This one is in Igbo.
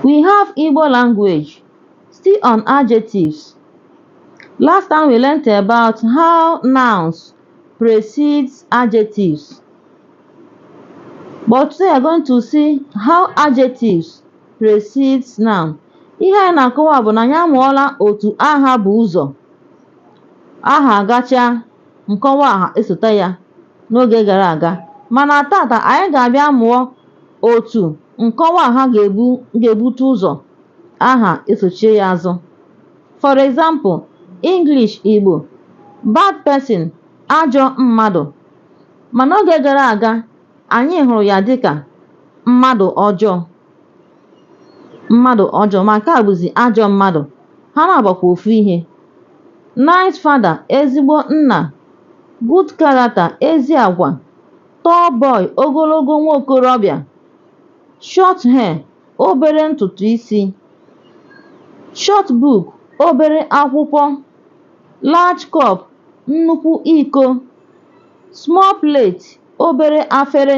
We have Igbo language. Still on adjectives. Last time we learnt about how nouns precede adjectives. But today we are going to see how adjectives precedes nouns. Ihe anyị na-akọwa bụ na anyị amụọla otu aha bu ụzọ. Aha agachaa nkọwa aha esote ya n'oge gara aga mana taata anyị ga-abịa mụọ otu nkọwa aha ga-ebu ga-ebute ụzọ aha esochie ya azụ for example English Igbo bad person ajọ mmadụ ma n'oge gara aga anyị hụrụ ya dịka mmadụ ọjọọ mmadụ ọjọọ ma nke a bụzi ajọ mmadụ ha na-agbakwa ofu ihe nice father ezigbo nna good character ezi agwa tall boy ogologo nwa okorobịa short hair obere ntutu isi short book obere akwụkwọ large cup nnukwu iko small plate obere afere